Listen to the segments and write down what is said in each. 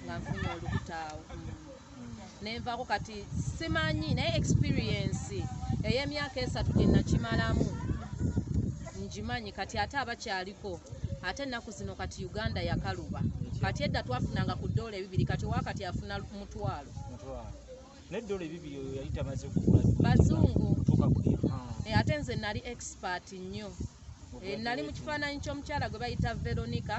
nga nfunye olubuto awo nenvaako kati simanyi naye experiensi ey'emyaka esatu gye nakimalamu ngimanyi kati ate abakyaliko ate ennaku zino kati uganda yakaluba kati edda twafunanga ku ddoola ebibiri kati owakati afuna mutwalo naye dola ebibiri oyo yali tamaze kugula bazungu eh, ate nze nali expert nnyo eh, nali mu kifaananyi ky'omukyala gwe bayita veronica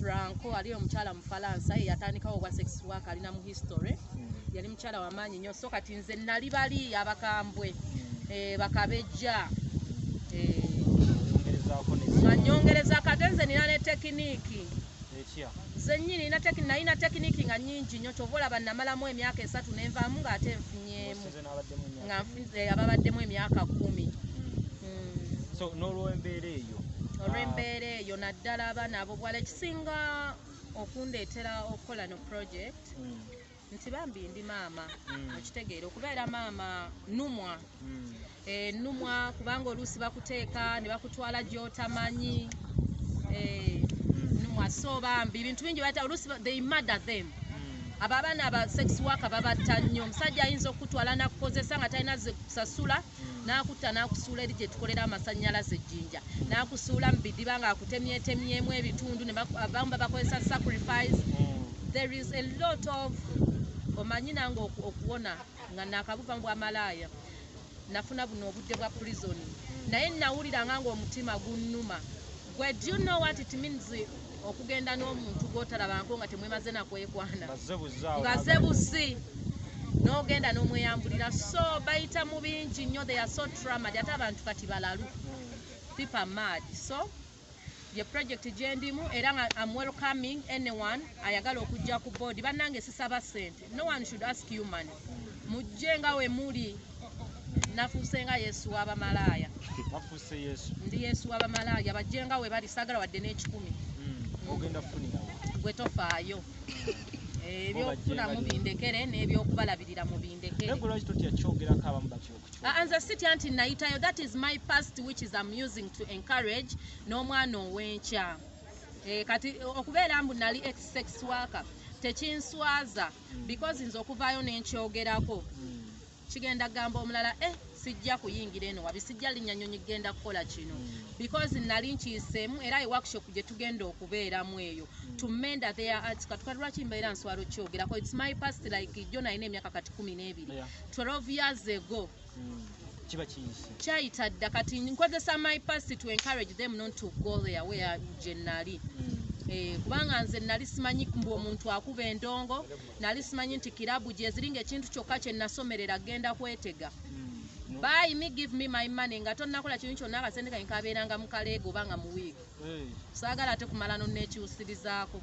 franco ali omukyala mufalansa eyatandikawo obwa sex work alina mu history hmm. yali mukyala wamaanyi nnyo so kati nze nali bali abakambwe hmm. eh, bakabejja nga nyongereza kate nze nina ne tekiniiki Nze nnyini nalina tekiniki nga nyingi nnyo kyova olaba namalamu emyaka esatu nenvaamu nga ate nfunyemu nga eh, ababaddemu emyaka kumi hmm. nolwembeera eyo olwembeera ah. eyo naddala abaana abo bwala ekisinga okundeetera okukola no project hmm. nti bambi ndi maama mm. okitegeera okubeera maama numwa mm. e, numwa kubanga oluusi bakuteeka ne bakutwala gyotamanyi e, mm. numwa so bambi bintu bingi bata oluusi they murder them abo abaana aba sex work babatta nnyo omusajja ayinza okukutwala nakukozesa nga talina zikusasula mm. n'akutta n'akusuula eri gye tukolera amasannyalaze ejjinja n'akusuula mu bidiba ng'akutemyetemyemu ebitundu abamu babakozesa sacrifice there is a lot of omanyi nange okuwona nga nakabuva mu bwamalaaya nafuna buno obudde bwa prison naye nawuliranga ng'omutima gunnuma gwe do you know what it means okugenda n'omuntu gw'otalabangako nga temwemaze nakwekwana nga ze buzi n'ogenda n'omweyambulira so bayita mu bingi nnyo they are so tramad ate abantu kati balalu pipa mad so ye project gyendimu era nga am welcoming anyone ayagala okujja ku board bannange sisaba sente no one should ask you man mujje nga we muli nafuse nga yesu wa bamalaaya wafuse yesu ndi yesu wa bamalaaya bajje nga we bali sagala wadde n'ekikumi hmm. ogenda kufunira gwe tofaayo eh, ebyokufuna mubindekere n'ebyokubalabirira mubindekerenze sitya nti nayitayo that is my past which is amusing to encourage n'omwana ow'enkya Eh, kati okubeera mbu nali ex sex worker tekinswaza mm. because nze okuvaayo nenkyogerako mm. kigenda kugamba omulala eh sijja kuyingira eno wabi sijja linnya nyonyi kugenda kukola kino mm. because nali nkiyiseemu era e workshop gye tugenda okubeeramu eyo to menda their arts katuka lwaki mbeera nswala okyogerako its my past like jo nalina emyaka kati kumi n'ebiri 12 years ago kyayita dda kati nkozesa my past to encourage them not to go there where gyenali mm. eh, kubanga nze nali simanyi mbu omuntu akuba endongo nali simanyi nti kirabu gyeziri nga ekintu kyokka kyenasomerera genda kwetega mm. by me give me my money nga tonakola kintu kyonna akasente kange kabeeranga mu kaleega oba nga mu wiiki eh. saagala ate kumala noneekyusirizaako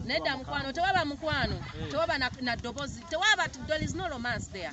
nedda mukwano tewaba mukwano eh. tewaba na dobozi tewaba there is no romance there